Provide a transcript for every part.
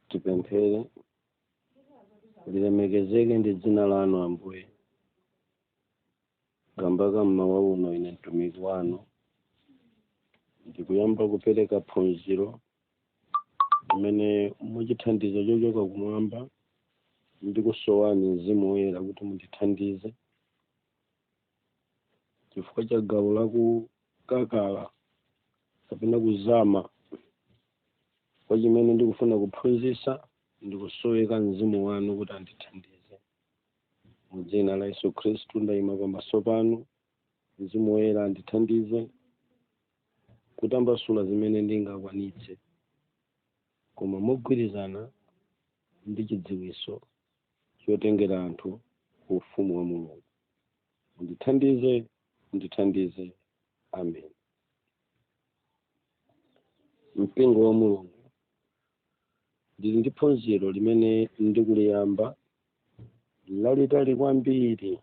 tipemphere lilemekezeke ndi dzina lanu ambuye kamba ka mmawa uno ine mtumiki wanu ndikuyamba kupereka phunziro limene mwa chithandizo chochoka kumwamba ndikusowani mzimu woyera kuti mundithandize chifukwa cha gawo la kukakala kapena kuzama kwa chimene ndikufuna kuphunzitsa ndikusoweka mzimu wanu kuti andithandize mu dzina la yesu khristu ndayima pamaso panu mzimu woyera andithandize kutambasula zimene ndingakwanitse koma mogwirizana ndi chidziwitso chotengera anthu ku ufumu wa mulungu mundithandize mundithandize amen mpingo wa mulungu ndili ndi phunziro limene ndikuliyamba lalitali kwambiri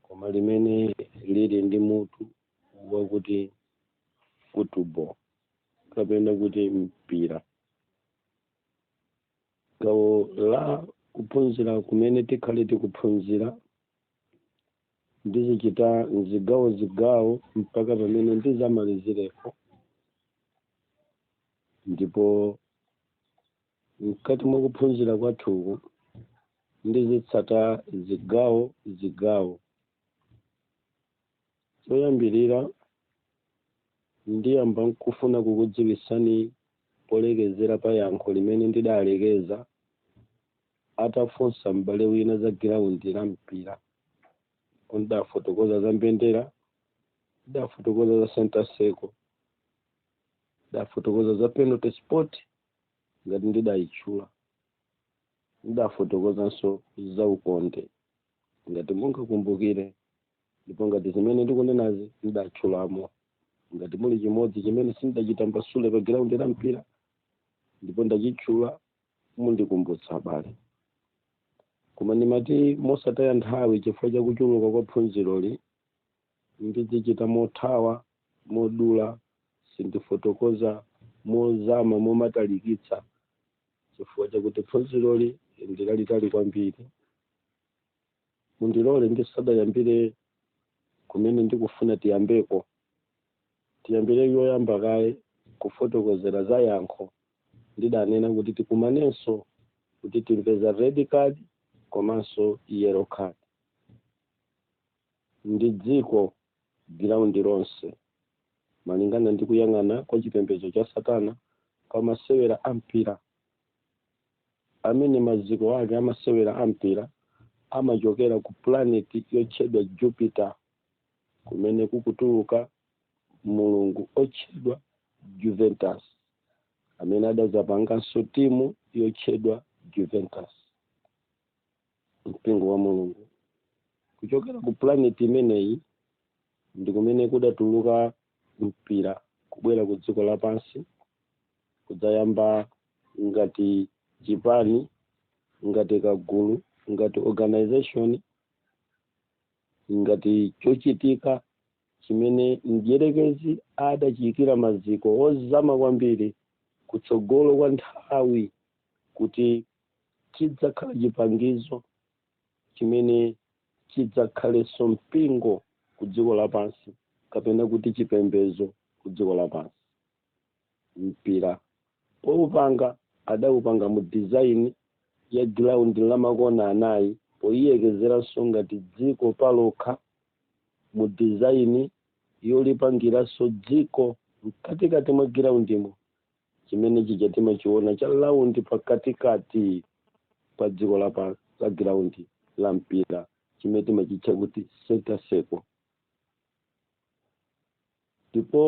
koma limene lili ndi mutu wakuti football kapena kuti mpira gawo la kuphunzira kumene tikhale tikuphunzira ndizichita mzigawo zigawo mpaka pamene ndizamalizireko ndipo mkati mwa kuphunzira kwathuku ndizitsata zigawo zigawo Choyambirira, ndiyamba nkufuna kukudziwitsani polekezera pa yankho limene ndidalekeza atafunsa m'bale wina za giraundi la mpira. Ndidafotokoza za mbendera, ndidafotokoza za center circle, ndidafotokoza za penalty spot ngati ndidayitchula, ndidafotokozanso za ukonde ngati mungakumbukire. ndipo ngati zimene ndikunenazi ndidatchulamo ngati muli chimodzi chimene sindidachitambasule pa giraundi la mpira ndipo ndachitchula mundikumbutsa abale koma ndimati mosataya nthawi chifukwa cha kuchuluka kwa phunziroli ndizichita mothawa modula sindifotokoza mozama momatalikitsa chifukwa chakuti phunziroli ndilalitali kwambiri mundilole ndisadayambire kumene ndikufuna tiyambeko tiyambire yoyamba kaye kufotokozera za yankho ndidanena kuti tikumanenso kuti timve za red card komanso yellow card ndi dziko giraundi lonse malingana ndi kuyang'ana kwa chipembedzo cha satana pa masewera a mpira amene maziko ake a masewera a mpira amachokera ku pulaneti yotchedwa Jupiter, kumene kukutuluka mulungu otchedwa Juventus, amene adadzapanganso timu yotchedwa Juventus. Mpingo wa Mulungu. Kuchokera ku pulaneti imeneyi ndi kumene kudatuluka mpira kubwera ku dziko lapansi kudzayamba ngati chipani ngati kagulu ngati organization ngati chochitika chimene mdyerekezi adachiyikira maziko ozama kwambiri kutsogolo kwa nthawi kuti chidzakhala chipangizo chimene chidzakhalenso mpingo ku dziko lapansi kapena kuti chipembedzo ku dziko lapansi mpira poupanga adawupanga mu design ya ground la makona anayi poiyekezeranso ngati dziko palokha mu design yolipangiranso dziko mkatikati mwa giraundimo chimene chija timachiona cha round pakatikati pa dziko la pa la ground la mpira chimene timachitcha kuti center circle ndipo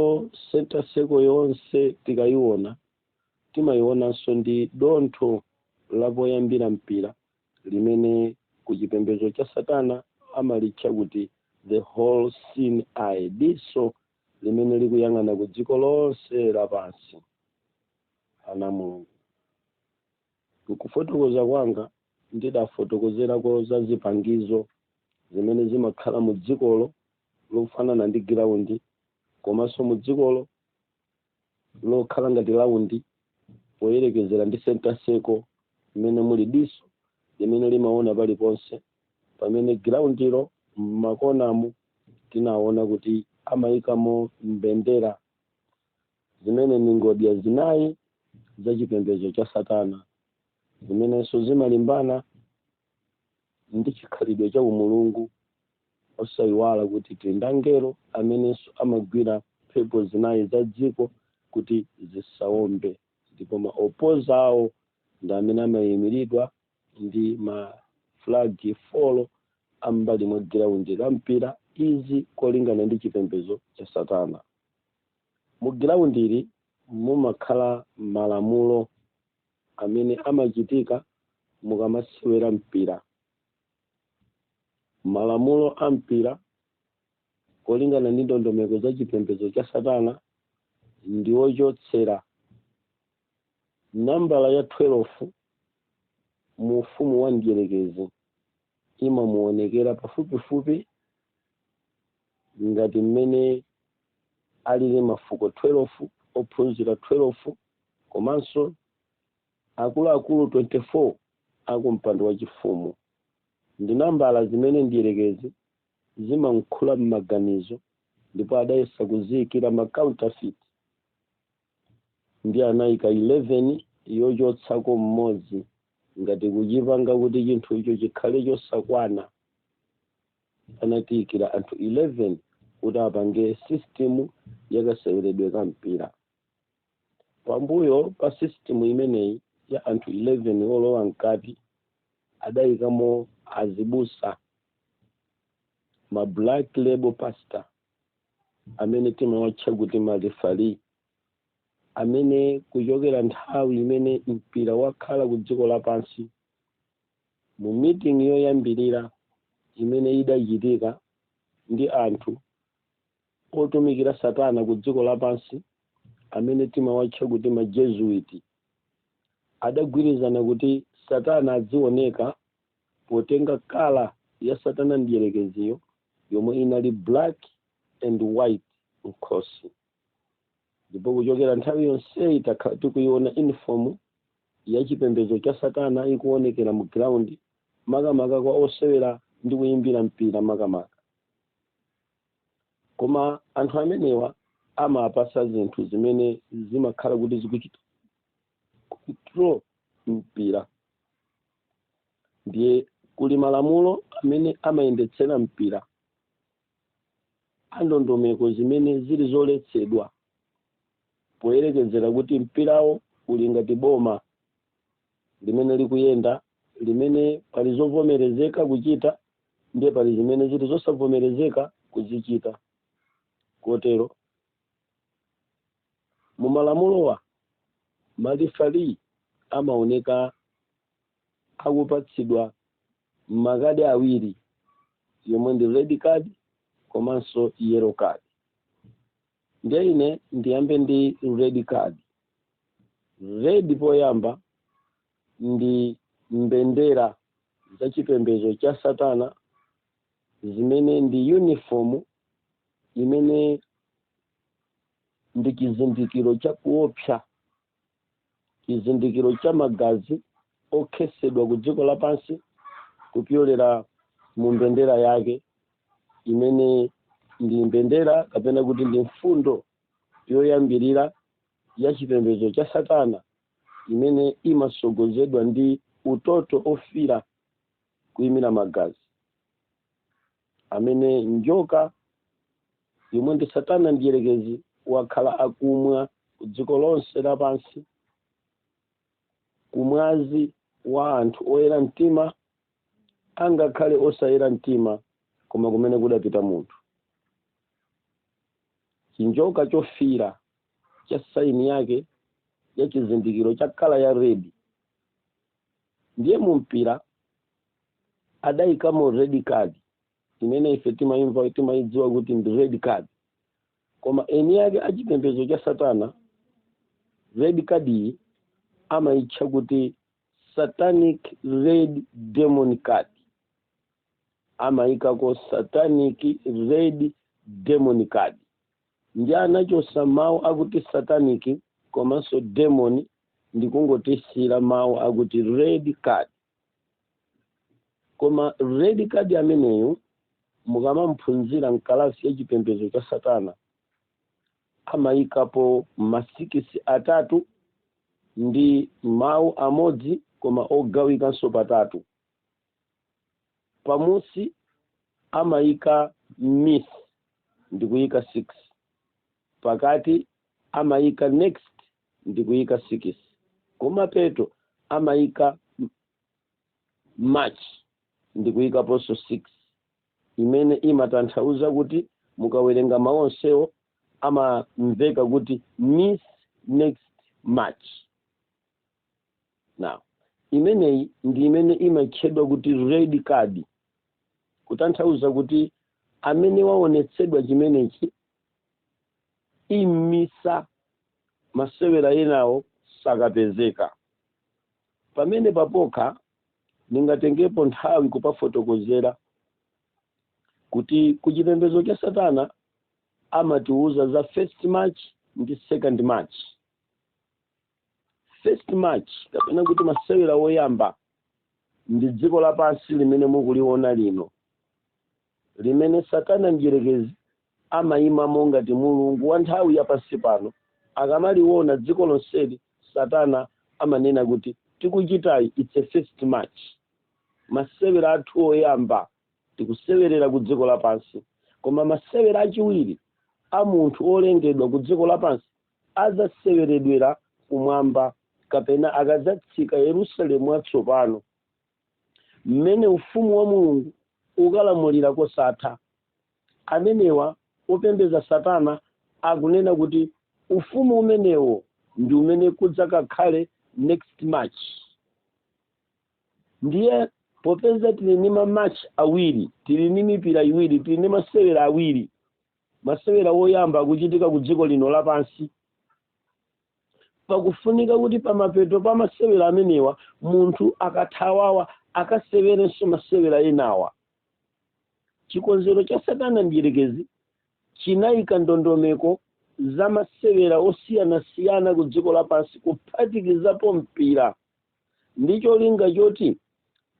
center circle yonse tikayiona timayionanso ndi dontho la poyambira mpira limene ku chipembedzo cha satana amalitcha kuti the all seeing eye diso limene likuyang'ana ku dziko lonse lapansi ana a mulungu Kufotokoza kwanga, ndidafotokozerako za zipangizo zimene zimakhala mu dzikolo lofanana ndi giraundi komanso mu dzikolo lokhala ngati laundi poyerekezera ndi center circle imene muli diso limene limaona paliponse pamene giraundilo m'makonamo tinaona kuti amaikamo mbendera zimene ndi ngodya zinayi za chipembedzo cha satana zimenenso zimalimbana ndi chikhalidwe cha umulungu osayiwala kuti tili ndi angelo amenenso amagwira mphepo zinayi za dziko kuti zisawombe ndipo ma opposer awo ndi amene amayimiridwa ndi ma flag four ambali mwa ground la mpira izi kolingana ndi chipembedzo cha satana Mu groundli mumakhala malamulo amene amachitika mukamasewera mpira. Malamulo a mpira kolingana ndi ndondomeko za chipembedzo cha Satana ndi ochotsera nambala ya 12 mu ufumu wa mdyerekezi. imamuonekera pafupifupi ngati mmene alili mafuko 12, ophunzira 12 komanso akuluakulu 24 a kumpando wachifumu. Ndi nambala zimene Mdyerekezi zimamukhala m'maganizo ndipo adayesa kuziikira ma counterfeit ndi anayika 11 yochotsako mmodzi ngati kuchipanga kuti chinthucho chikhale chosakwana anatiyikira anthu 11 kuti apange system yakaseweredwe ka mpira pambuyo pa system imeneyi ya anthu 11 olowa mkati adayikamo azibusa ma black label pastor amene timawatcha kuti marefari amene kuchokera nthawi imene mpira wakhala ku dziko lapansi mu meeting yoyambirira imene idachitika ndi anthu otumikira satana ku dziko lapansi amene timawatcha kuti majezuiti adagwirizana kuti satana adzioneka potenga colour ya satana mdierekeziyo yomwe inali black and white mkhosi ndipo kuchokera nthawi yonseyi takhala tikuiona uniform ya chipembedzo cha satana ikuonekera mu ground makamaka kwa osewera ndi kuyimbira mpira makamaka koma anthu amenewa amapatsa zinthu zimene zimakhala kuti zikuchita control mpira ndiye kuli malamulo amene amayendetsera mpira andondomeko zimene zili zoletsedwa poyerekezera kuti mpirawo uli ngati boma limene likuyenda limene pali zovomerezeka kuchita ndiye pali zimene zili zosavomerezeka kuzichita kotero mu malamulowa malifari amaoneka akupatsidwa makadi awiri yomwe ndi red card komanso yellow card ndiye ine ndiyambe ndi red card red poyamba ndi mbendera za chipembedzo cha satana zimene ndi yunifomu imene ndi chizindikiro cha kuopsa chizindikiro cha magazi okhetsedwa ku dziko lapansi kupyolera mu mbendera yake imene ndi mbendera kapena kuti ndi mfundo yoyambirira ya chipembedzo cha satana imene imasogozedwa ndi utoto ofira kuimira magazi amene njoka yomwe ndi satana mdierekezi wakhala akumwa ku dziko lonse lapansi kumwazi wa anthu oyera mtima angakhale osayera mtima koma kumene kudapita munthu chinjoka chofira cha saini yake ya chizindikiro cha kala ya redi ndiye mu mpira adayikamo red card imene ife timayim timayidziwa kuti ndi red card koma eni ake achipembedzo cha satana red card iyi amayitcha kuti satanic red demon card amayikako satanic red demon card Ndiye anachotsa mawu akuti satanic komanso demon ndikungotisiyira mawu akuti red card. Koma red card ameneyo mukamamuphunzira m'kalasi ya chipembedzo cha Satana amayikapo masikisi atatu ndi mawu amodzi koma ogawikanso patatu. pamusi amayika miss ndikuyika 6 pakati amayika next ndikuyika 6 kumapeto amayika match ndikuyikaponso 6 imene imatanthauza kuti mukawerenga mawu onsewo amamveka kuti miss next match now imeneyi ndi imene imatchedwa kuti red card kutanthauza kuti amene waonetsedwa chimenechi amisa masewera enawo sakapezeka pamene papokha ndingatengepo nthawi kupafotokozera kuti kuchipembedzo cha satana amatiuza za first match ndi second match first match kapena kuti masewera woyamba ndi dziko lapansi limene mukuliona lino limene satana mdyerekezi amayimamo ngati mulungu wa nthawi ya pansi pano akamaliona dziko lonseli satana amanena kuti tikuchitayo it's a first match masewera athu oyamba tikusewerera ku dziko lapansi koma masewera achiwiri a munthu olengedwa ku dziko lapansi adzaseweredwera kumwamba kapena akadzatsika Yerusalemu watsopano, mmene ufumu wa Mulungu ukalamulira kosatha. Amenewa opembedza Satana akunena kuti ufumu umenewo ndi umene kudzakakhale next match. Ndiye popeza tili ni ma match awiri, tili ni mipira iwiri, tili ni masewera awiri, masewera woyamba akuchitika ku dziko lino lapansi pakufunika kuti pamapeto pa masewera amenewa munthu akathawawa akasewerenso masewera enawa chikonzero cha satana mdyerekezi chinayika ndondomeko za masewera osiyanasiyana ku dziko lapansi kuphatikizapo mpira ndi cholinga choti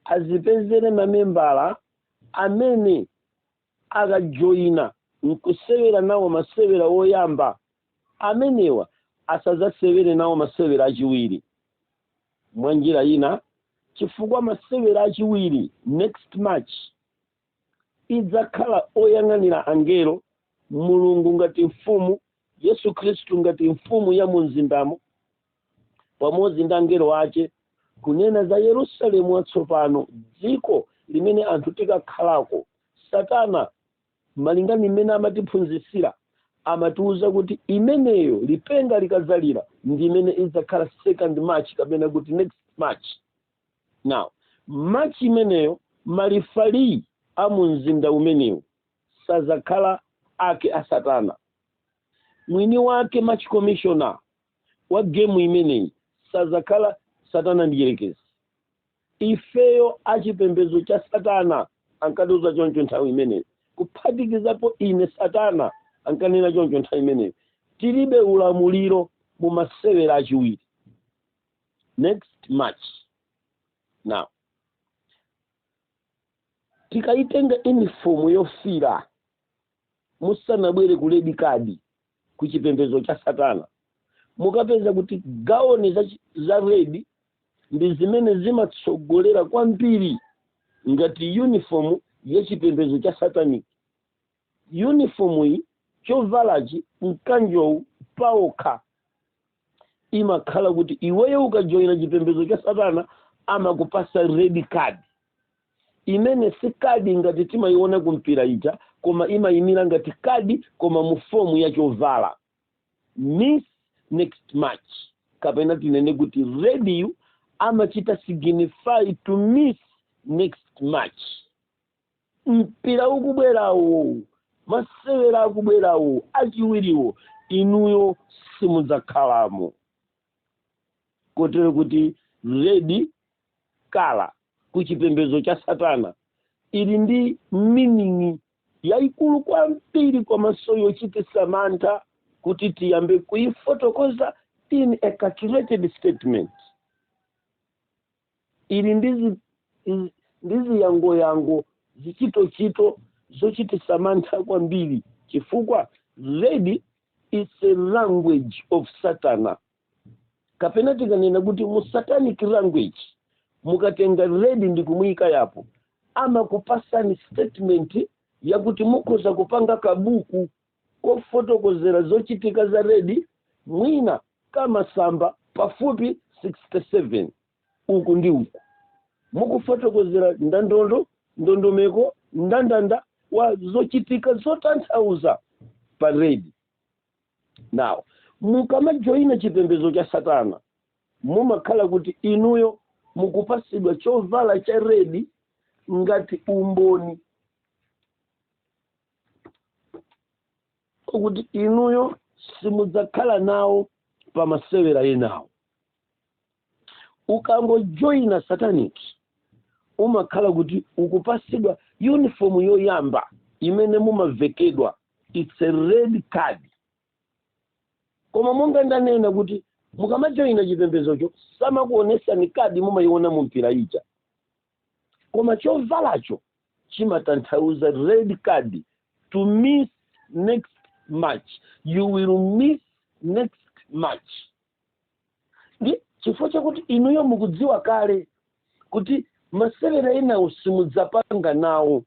azipezere mamembala amene akajoina n'kusewera nawo masewera oyamba amenewa asadzasewere nawo masewera achiwiri. Mwanjira ina, chifukwa masewera achiwiri, next match, idzakhala oyang'anira angelo, Mulungu ngati mfumu, Yesu Khristu ngati mfumu ya mu mzindamo, pamodzi ndi angelo ache kunena za yerusalemu watsopano dziko limene anthu tikakhalako satana malinga ndi mmene amatiphunzitsira amatiwuza kuti imeneyo lipenga likadzalira ndi imene idzakhala second match kapena kuti next match now match imeneyo malifali a mu mzinda umenewu sazakhala ake a satana mwini wake match commissioner wa gemu imeneyi sadzakhala satana mdierekezi ifeyo achipembedzo cha satana ankatiuza choncho nthawi imeneyi kuphatikizapo ine satana ankanena choncho nthawi imeneyi tilibe ulamuliro mu masewera achiwiri next match now tikayitenga yunifomu yofira musanabwere ku red card ku chipembedzo cha satana mukapeza kuti gauni za red ndi zimene zimatsogolera kwambiri ngati uniform ya chipembedzo cha satanic uniform iyi chovalachi mkanjowu paokha imakhala kuti iweyo ukajoyina chipembedzo cha satana amakupasa red card imene si kadi ngati timayiona kumpira ija koma imayimira ngati kadi koma mu fomu ya chovala miss next match kapena tinene kuti red yo amachita signify to miss next match mpira ukubwerawo masewera akubwerawo achiwiriwo inuyo simudzakhalamo kotero kuti red colour ku chipembedzo cha satana ili ndi meaning yayikulu kwambiri komanso yochititsa mantha kuti tiyambe kuyifotokoza in a calculated statement Ili ndi ziyangoyango zichitochito zochititsa mantha kwambiri chifukwa red is a language of satana kapena tikanena kuti mu satanic language mukatenga red ndi kumuyika apo amakupasani statement yakuti mukhoza kupanga kabuku kofotokozera zochitika za Red mwina ka masamba pafupi 67 uku ndi uku mukufotokozera ndandondo ndondomeko ndandanda wa zochitika zotanthauza pa Red. Now, mukamajoyina chipembedzo cha Satana mumakhala kuti inuyo mukupasidwa chovala cha Red ngati umboni kuti inuyo simudzakhala nawo pa masewera enawo ukangojoyina satanic umakhala kuti ukupasidwa uniform yoyamba imene mumavekedwa it's a red card koma monga ndanena kuti mukamajoyina chipembezocho samakuonesani kadi mumayiona mu mpira ija koma chovalacho chimatanthauza red card to miss next match you will miss next match ndi chifukwa chakuti inuyo mukudziwa kale kuti masewera enawo simudzapanga nawo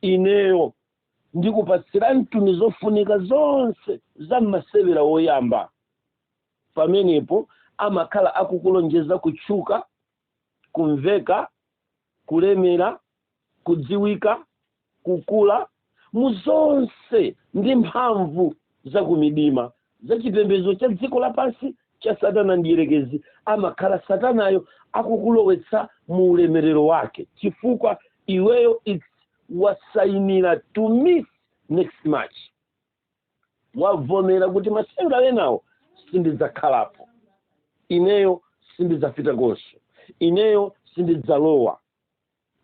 ineyo ndikupatsiranituni zofunika zonse za masewera woyamba pamenepo amakhala akukulonjeza kutchuka kumveka, kulemera, kudziwika, kukula mu zonse ndi mphamvu za kumidima za chipembedzo cha dziko lapansi cha satana mdierekezi amakhala satanayo akukulowetsa mu ulemerero wake chifukwa iweyo it's wasainira to miss next match wavomera kuti masewera enawo sindidzakhalapo ineyo sindidzapitakonso ineyo sindidzalowa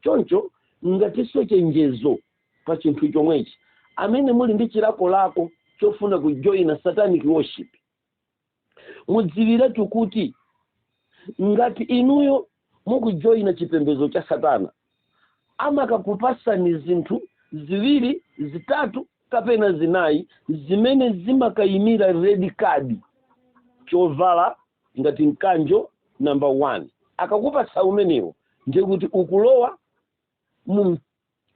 choncho ngatinso chenjezo pa chinthu chomwechi amene muli ndi chilakolako chofuna kujoyina satanic worship mudziwiretu kuti ngati inuyo mukujoyina chipembedzo cha satana amakakupasani zinthu ziwiri zitatu kapena zinayi zimene zimakayimira red card chovala ngati mkanjo namba 1 akakupasa umenewo ndiye kuti ukulowa mu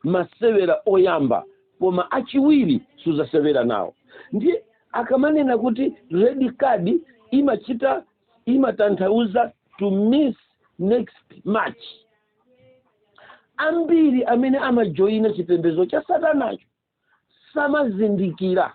masewera oyamba koma achiwiri suzasewera nawo ndiye akamanena kuti red card imachita imatanthauza to miss next match ambiri amene amajoyina chipembedzo cha satanacho samazindikira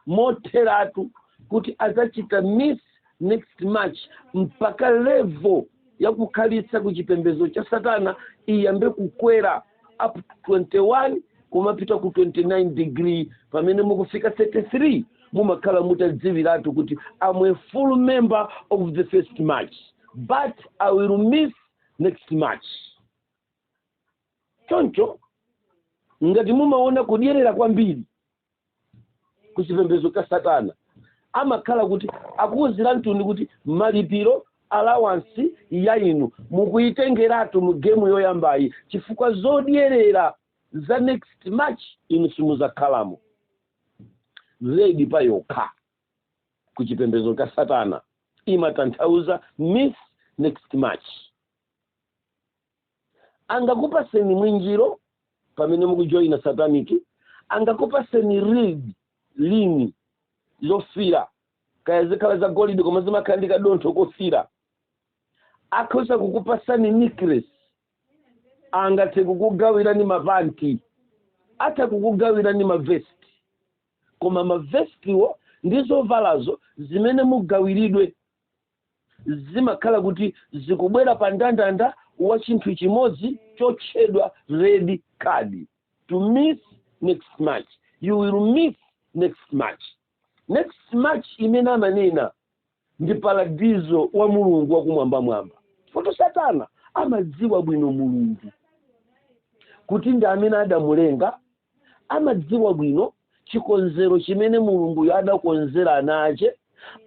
motheratu kuti adzachita miss next match mpaka level yakukhalitsa ku chipembedzo cha satana iyambe kukwera up 21 kumapita ku 29 degree pamene mukufika 33 mumakhala mutadziwiratu kuti i'm a full member of the first match but i will miss next match choncho ngati mumaona kudyerera kwambiri ku chipembedzo cha satana amakhala kuti akuwuziranituni kuti malipiro alawansi ya inu mukuyitengeratu mu gemu yoyambayi chifukwa zodyerera za next match inu simuzakhalamo red pa yokha ku chipembedzo cha satana imatanthauza miss next match angakupaseni mwinjiro pamene mukujoyina sataniki angakupaseni ring lini lofira kaya zikhala za golide koma zimakhala ndi kadontho kofira akhoza kukupasani necklace angathe kukugawirani mapanti atha kukugawirani mavesti koma mavestiwo ndi zovalazo zimene mugawiridwe zimakhala kuti zikubwera pa ndandanda wa chinthu chimodzi chotchedwa red card to miss next match you will miss next match next match imene amanena ndi paradizo wa mulungu wakumwambamwamba poti satana amadziwa bwino mulungu kuti ndi amene adamulenga amadziwa bwino chikonzero chimene mulunguyo adakonzera ana ake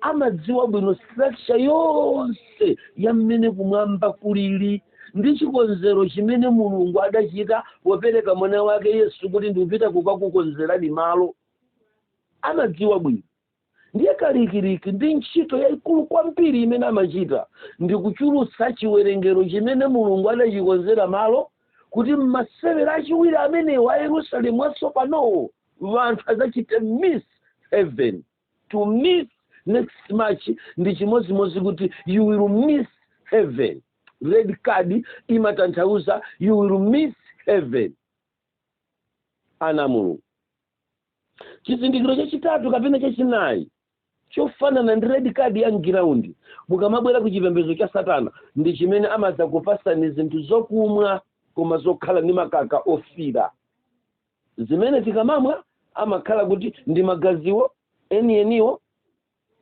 amadziwa bwino structure yonse ya mmene kumwamba kulili ndi chikonzero chimene mulungu adachita popereka mwana wake yesu kuti ndikupita kukakukonzerani malo amadziwa bwino ndiye kalikiliki ndi ntchito yayikulu kwambiri imene amachita ndi kuchulutsa chiwerengero chimene mulungu adachikonzera malo kuti mmasewera achiwiri amenewo a yerusalemu watsopanowo wanthu adzachite miss heaven to miss next match ndi chimodzimodzi kuti you will miss heaven red card imatanthauza you will miss heaven ana mulungu chizindikiro chachitatu kapena chachinayi chofanana ndi red card ya mgiraundi mukamabwera ku chipembedzo cha satana ndi chimene amadzakupasani zinthu zokumwa koma zokhala ndi makala ofira zimene tikamamwa amakhala kuti ndi magaziwo enieniwo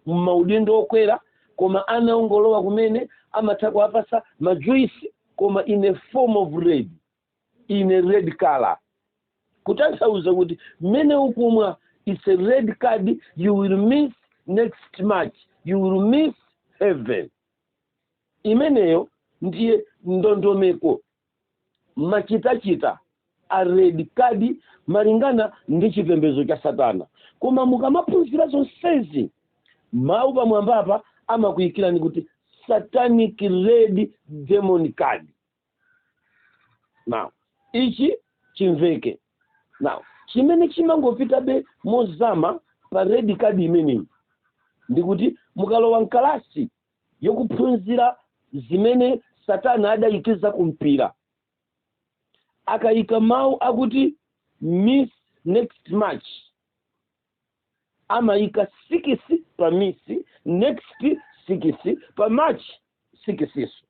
mmaudindo okwera koma ana ongolowa kumene amatha kuwapasa majuisi koma in a form of red in a red color kutanthauza kuti mmene ukumwa it's a red card you will miss next match you will miss heaven imeneyo ndiye ndondomeko machitachita a red card malingana ndi chipembedzo cha satana koma mukamaphunzira zonsezi mawu pamwambapa amakuyikirani kuti satanic red demon card now ichi chimveke now chimene chimangopitabe mozama pa red card imeneyi ndikuti mukalowa mkalasi yokuphunzira zimene satana adayikiza kumpira akayika mawu akuti miss next match amayika sikisi pa miss next sikisi pa match sikisiso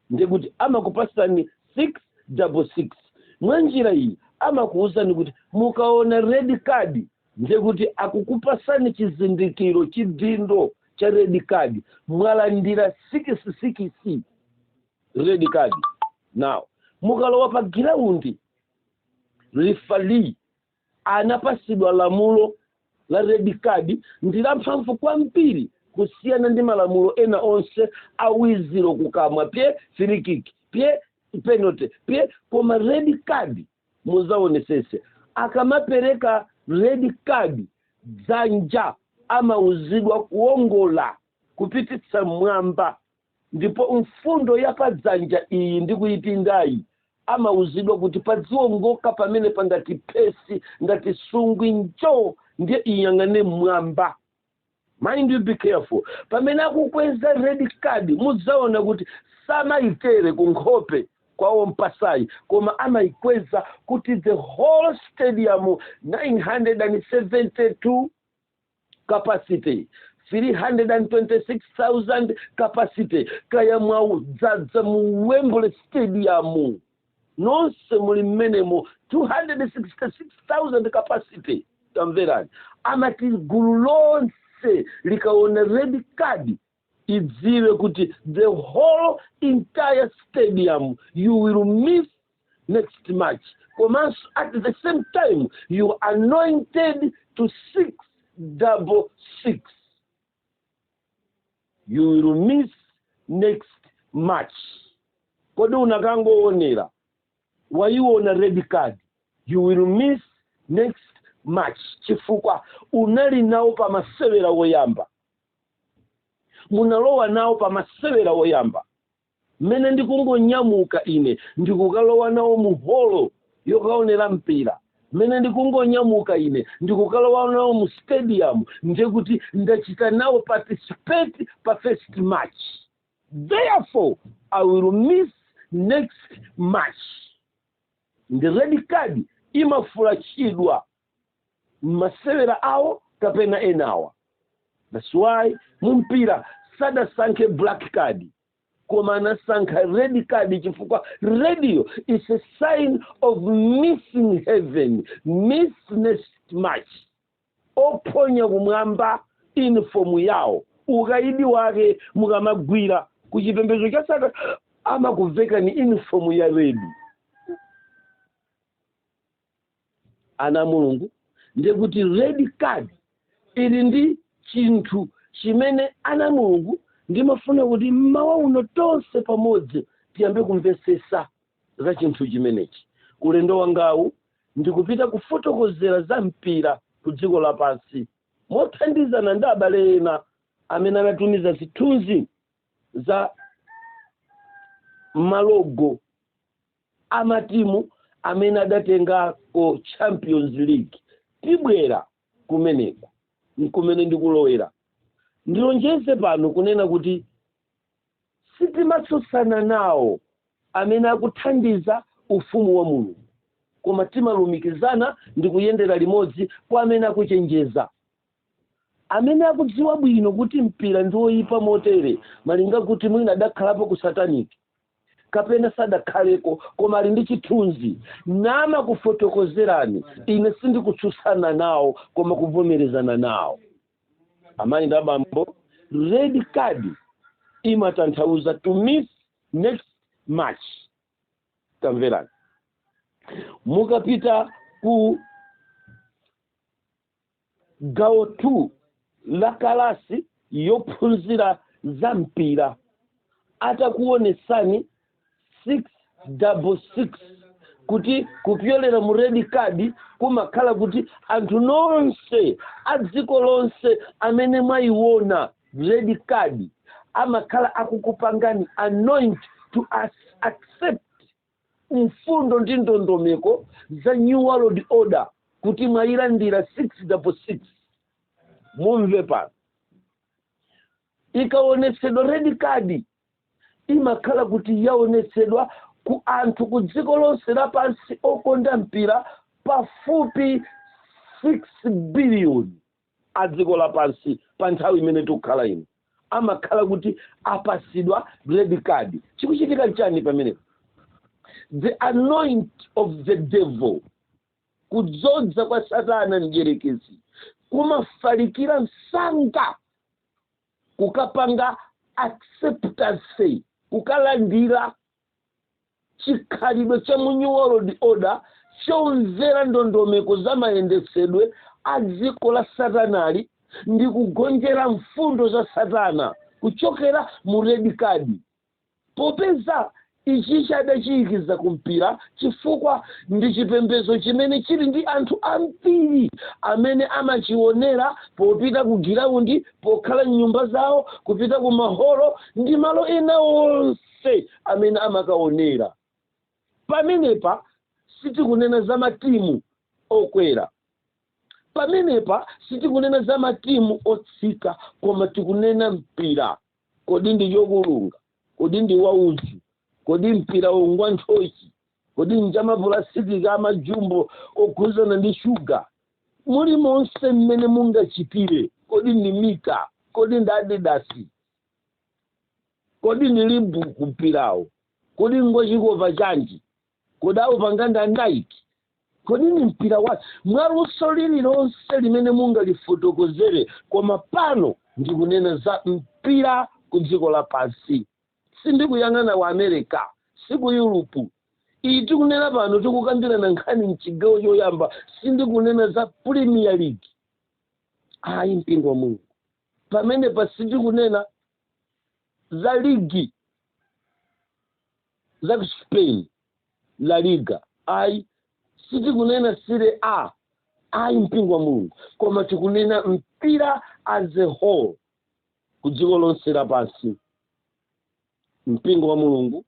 ndikuti amakupasani 6 double 6 mwa njira iyi amakuwuzani kuti mukaona red card ndikuti akukupasani chizindikiro chidindo cha red card mwalandira sikisi sikisi red card now mukalowa pa giraundi rifali anapasidwa lamulo la red card ndi lamphamvu kwambiri kusiyana ndi malamulo ena onse a wizilo kukamwa pye free kick pye penalty pye koma red card muzaonesese akamapereka red card dzanja amauzidwa kuongola kupititsa mmwamba Ndipo mfundo ya padzanja iyi ndi kuipindayi amauzidwa kuti padziongoka pamenepa ngati phesi ngati sungwi njo ndiye iyang'ane mmwamba mind you be careful pamene akukweza red card mudzaona kuti samayitere ku nkhope kwa ompasayi koma amaikweza kuti the whole stadium 972 capacity 326,000 capacity kaya mwaudzadza mu wembley stadium nonse muli mmenemo 266,000 capacity tamverani amati gulu lonse likaona red card idziwe kuti the whole entire stadium you will miss next match komanso at the same time you are anointed to six double six you will miss next match kodi unakangoonera wayiona red card you will miss next match chifukwa unali nawo pa masewera woyamba munalowa nawo pa masewera oyamba mmene ndikungonyamuka ine ndikukalowa nawo mu holo yokaonera mpira mmene ndikungonyamuka ine ndikukalowa nawo mu stadium ndiye kuti ndachita nawo participate pa first match therefore i will miss next match ndi red card imafulachidwa mmasewera awo kapena enawa that's why mumpira sadasankhe black card koma anasankha red card chifukwa redi is a sign of missing heaven miss next match ophonya kumwamba inifomu yawo ukaidi wake mukamagwira ku chipembedzo cha satana amakuvekani inifomu ya redi ana a mulungu ndi kuti red card ili ndi chinthu chimene ana a mulungu ndimafuna kuti mmawa uno tonse pamodzi tiyambe kumvesesa za chinthu chimenechi ulendo wangawu ndikupita kufotokozera za mpira ku dziko lapansi mothandizana ndi abale ena amene anatumiza zithunzi za malogo a matimu amene adatengako Champions League. Tibwera kumeneko kumene ndikulowera. Ndilonjeze pano kunena kuti sitimatsutsana nawo amene akuthandiza Ufumu wa Mulungu, koma timalumikizana ndi kuyendera limodzi kwa amene akuchenjeza, amene akudziwa bwino kuti mpira ndi woipa motere malinga kuti mwina adakhalapo ku satanic. kapena sadakhaleko koma ali ndi chithunzi namakufotokozerani ine sindikutsutsana nawo koma kuvomerezana nawo amayi ndi abambo red card imatanthauza to miss next match tamverani mukapita ku gawo 2 la kalasi yophunzira za mpira atakuonesani 666 kuti kupyolera mu red card kumakhala kuti anthu nonse a dziko lonse amene mwayiona red card amakhala akukupangani anoint to accept mfundo ndi ndondomeko za new world order kuti mwayilandira 666 mumve pano ikaonetsedwa red card imakhala kuti yaonetsedwa ku anthu ku dziko lonse lapansi okonda mpira pafupi 6 biliyoni a dziko lapansi pa nthawi imene tikukhala ino amakhala kuti apasidwa red card chikuchitika chani pamenepo the anoint of the devil kudzodza kwa satana mdyerekezi kumafalikira msanga kukapanga acceptance kukalandira chikhalidwe cha mu new world order chomvera ndondomeko za mayendetsedwe a dziko la satanali ndi kugonjera mfundo za satana kuchokera mu red card popeza ichichi adachiyikiza kumpira chifukwa ndi chipembedzo chimene chili ndi anthu ambiri amene amachionera popita ku giraundi pokhala m'nyumba zawo kupita ku maholo ndi malo ena onse onse amene amakaonera. Pamenepa sitikunena za matimu okwera. Pamenepa sitikunena za matimu otsika koma tikunena mpira. Kodi ndi chokulunga? Kodi ndi waudzu? Kodi mpirawo ngwa nthochi? Kodi nchamapulasitiki amajumbo okhuzana ndi shuga? Mulimonse mmene mungachitire, kodi ndi mita? Kodi ndi adidasi? kodi ni reebok mpirawo kodi ngwachikopa chanji kodi aupanga nda nike kodi ni mpira wa mwaluso lililonse limene mungalifotokozere koma pano ndikunena za mpira ku dziko lapansi sindikuyang'ana wa america si ku yuropu iyi tikunena pano tikukambirana nkhani mchigawo choyamba sindikunena za premier league ayi mpingo wa mulungu Pamenepa sitikunena za ligi za Spain, La Liga, ayi. Sitikunena Serie A, ayi, mpingo wa Mulungu, koma tikunena mpira as a whole, ku dziko lonse lapansi, mpingo wa Mulungu.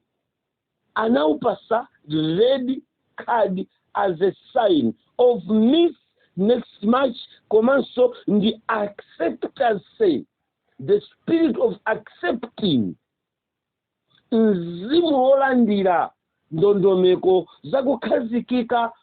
anaupasa red card as a sign of miss next match komanso ndi acceptance the spirit of accepting mzimu wolandira ndondomeko zakukhazikika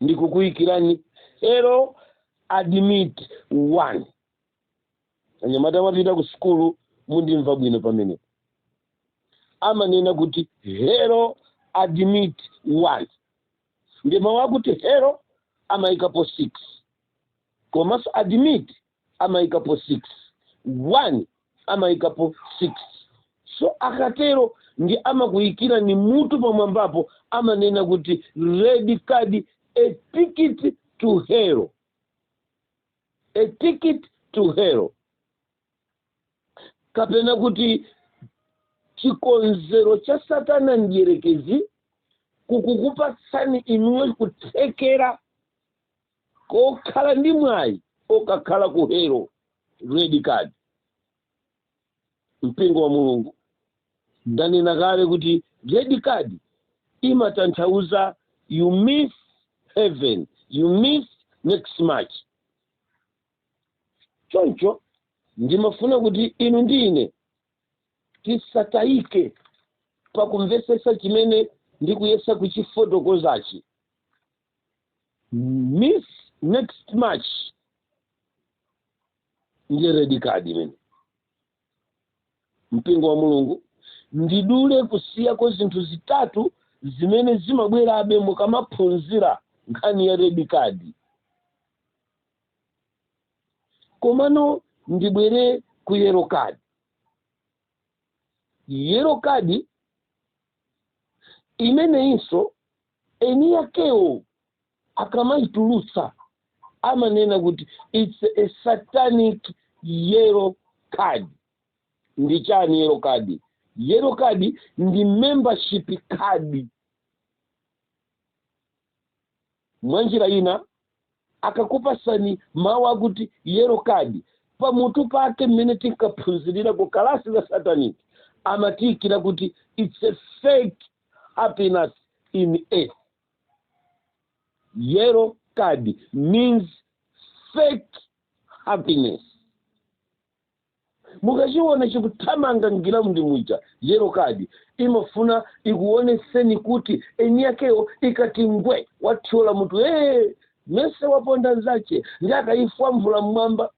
ndikukuyikirani hell admit one anyamata amapita ku sukulu mundimva bwino pamene amanena kuti hell admit one ndi mawu akuti hell amayikapo six komanso admit amaikapo 6 1 amaikapo 6 so akatero ndi amakuyikira ni mutu pamwambapo amanena kuti red card a ticket to hell a ticket to hell kapena kuti chikonzero cha satana mdierekezi kukukupatsani inuyo kuthekera kokhala ndi mwayi okakhala ku hell red card mpingo wa mulungu ndanena kale kuti red card imatanthauza you miss heaven you miss next match choncho ndimafuna kuti inu ndi ine tisatayike pakumvetsetsa chimene ndikuyesa kuchifotokozachi miss next match ndiye red card imene mpingo wa mulungu ndidule kusiyako zinthu zitatu zimene zimabwerabe mukamaphunzira nkhani ya red card komano ndibwere ku yellow card yellow card imeneyinso eni yakewo akamaitulutsa amanena kuti its a satanic yellow card ndi chiyani yellow card yellow card ndi membership card mwa njira ina akakupasani mawu akuti yellow card pamutu pake mmene tinkaphunzirira ku kalasi la satanic amatiikira kuti its a fake happiness in earth yellow card means fake happiness mukachiona chikuthamanga m'giraundi muja yellow card imafuna ikuoneseni kuti eni yakewo ikati ngwe wathyola mutu ee mese waponda nzache ndi akayifwamvula mmwamba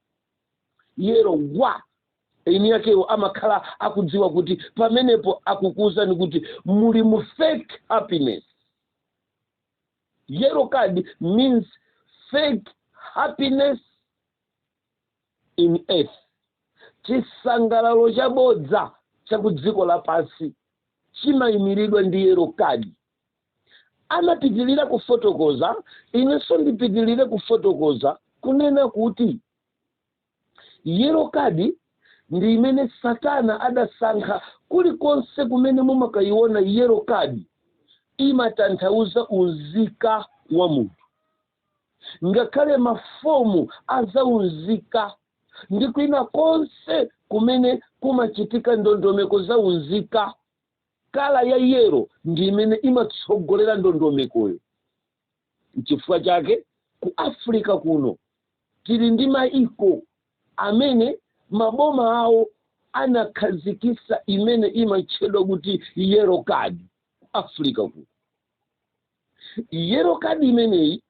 yellow wa eni yakewo amakhala akudziwa kuti pamenepo akukuuzani kuti muli mu fake happiness yellow card means fake happiness in earth chisangalalo chabodza cha ku dziko lapansi chimayimiridwa ndi yellow card anapitirira kufotokoza inenso ndipitirire kufotokoza kunena kuti yellow card ndi imene satana adasankha kulikonse kumene mumakayiona yellow card imatanthauza unzika wa munthu ngakhale mafomu azaunzika ndi kwina konse kumene kumachitika ndondomeko zaunzika kala ya yellow ndi imene imatsogolera ndondomekoyo nchifukwa chake ku africa kuno tili ndi maiko amene maboma awo anakhazikisa imene imatchedwa kuti yellow card africa kuno yellow card imeneyi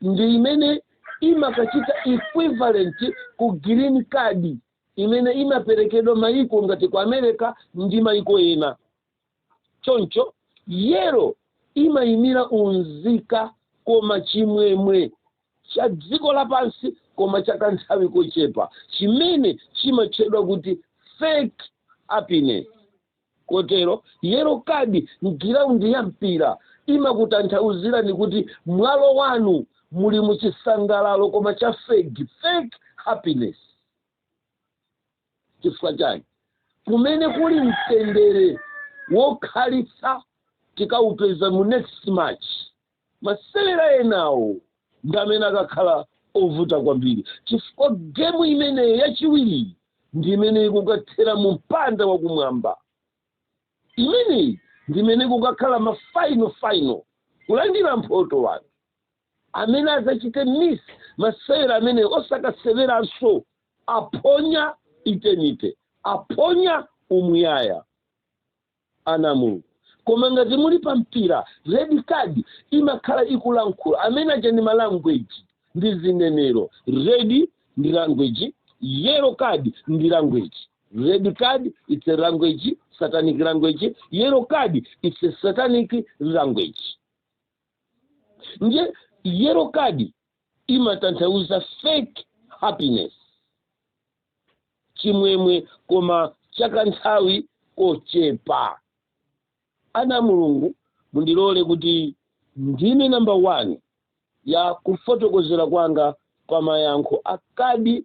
ndi imene imakachita equivalent ku green card imene imaperekedwa maiko ngati ku america ndi maiko ena choncho yellow imayimira unzika koma chimwemwe cha dziko lapansi koma cha kanthawi kochepa chimene chimatchedwa kuti fake happiness Kotero, yellow card mgiraundi ya mpira imakutanthauzirani kuti mwalo wanu muli mu chisangalalo koma cha fake, fake happiness. Chifukwa chani? Kumene kuli mtendere wokhalitsa tikaupeza mu next match. Masewera enawo ndi amene akakhala ovuta kwambiri chifukwa gemu imeneyo yachiwiriyi ndi imene ikukathera mu mpanda wakumwamba. Imeneyi ndi imene kukakhala ma final final kulandira mphoto anthu amene adzachite miss masewera amenewo osakaseweranso aphonya eternity aphonya umuyaya. ana a Mulungu. Koma ngati muli pa mpira, red card imakhala ikulankhula. Amene aja ndi ma language, ndi zinenero. Red ndi language, yellow card ndi language. Red card it's a language, satanic language. Yellow card it's a satanic language. Ndiye yellow card imatanthauza fake happiness. chimwemwe koma chakanthawi kochepa ana a mulungu mundilole kuti ndime namba 1 ya kufotokozera kwanga pa mayankho a kadi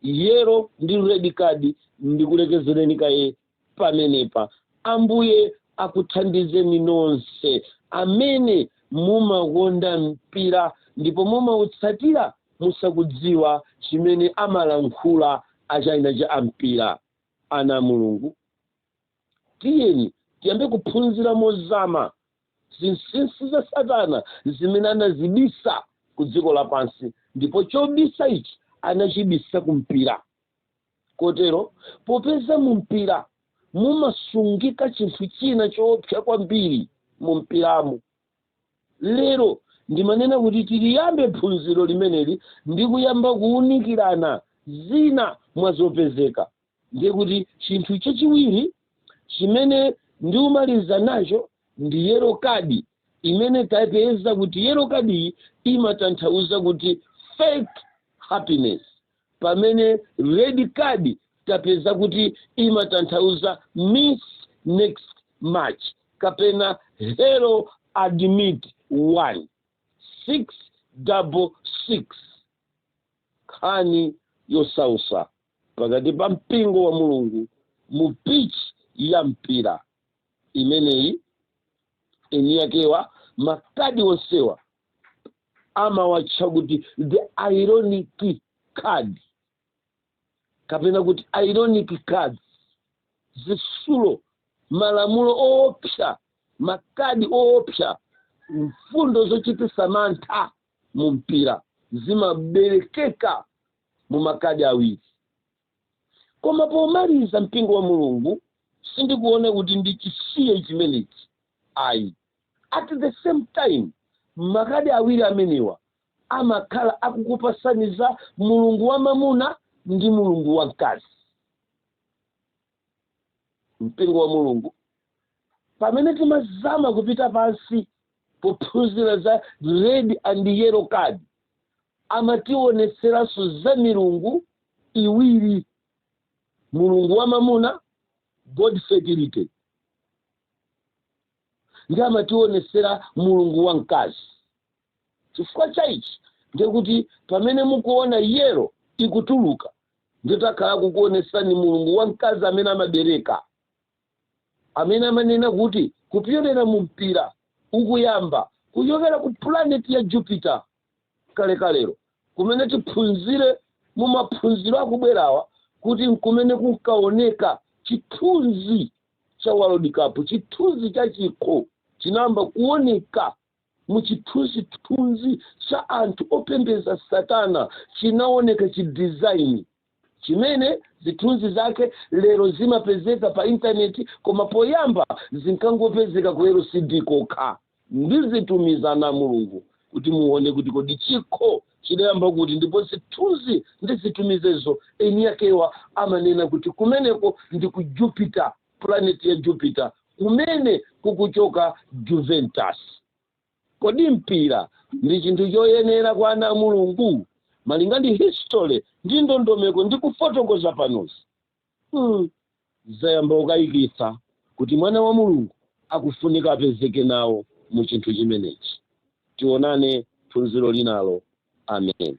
yero ndi red kadi ndikulekezereni kaye pamenepa. Ambuye akuthandizeni nonse amene mumakonda mpira ndipo mumautsatira musakudziwa chimene amalankhula a china cha ampira. Ana a Mulungu, tiyeni tiyambe kuphunzira mozama zinsinsi za Satana zimene anazibisa ku dziko lapansi ndipo chobisa ichi anachibisa ku mpira. kotero popeza mu mpira mumasungika chinthu china choopsa kwambiri mu mpiramo lero ndimanena kuti tiliyambe phunziro limeneli ndi kuyamba kuwunikirana zina mwa zopezeka ndiye kuti chinthu chachiwiri chimene ndiumaliza nacho ndi yero kadi imene tapeza kuti yero kadiyi imatanthauza kuti fake happiness pamene red card tapeza kuti imatanthauza miss next match kapena hell admit 1 6 double 6 nkhani yosausa pakati pa mpingo wa mulungu mu pitch ya mpira imeneyi eniyakewa makadi onsewa amawatcha kuti the ironic card kapena kuti ironic cards zisulo malamulo oopsa makadi oopsa mfundo zochitisa mantha mu mpira zimaberekeka mu makadi awiri koma pomaliza mpingo wa mulungu sindikuona kuti ndichisiye chimenechi ayi at the same time makadi awiri amenewa amakhala akukupasaniza mulungu wa mamuna ndi mulungu wa mkazi mpingo wa mulungu pamene timazama kupita pansi pophunzira za red and yellow card amatiwonetseranso za milungu iwiri mulungu wa mamuna god fertility ndi amatiwonetsera mulungu wa mkazi Chifukwa cha ichi ndi kuti pamene mukuona yellow ikutuluka nditakhala kukuonesani mulungu wa mkazi amene amabereka amene amanena kuti kupyolera mu mpira ukuyamba kuchokera ku pulaneti ya Jupiter kalekalero kumene tiphunzire mu maphunziro akubwerawa kuti nkumene kunkaoneka chithunzi cha World Cup, chithunzi cha chikho chinayamba kuoneka Mu chithunzithunzi cha anthu opembeza Satana chinaoneka chi design chimene zithunzi zake lero zimapezeka pa internet koma poyamba zinkangopezeka ku LCD kokha. Ndizitumiza ana a Mulungu kuti muone kuti kodi chikho chidayamba kuti ndipo zithunzi ndizitumizezo eniakewa amanena kuti kumeneko ndi ku Jupiter. pulaneti ya Jupiter kumene kukuchoka Juventus. Kodi mpira ndi chinthu choyenera kwa ana a Mulungu? Malinga ndi history ndi ndondomeko ndi kufotokoza panozi, zayamba kukayikitsa kuti mwana wa Mulungu akufunika apezeke nawo mu chinthu chimenechi. Tionane phunziro linalo. Amen.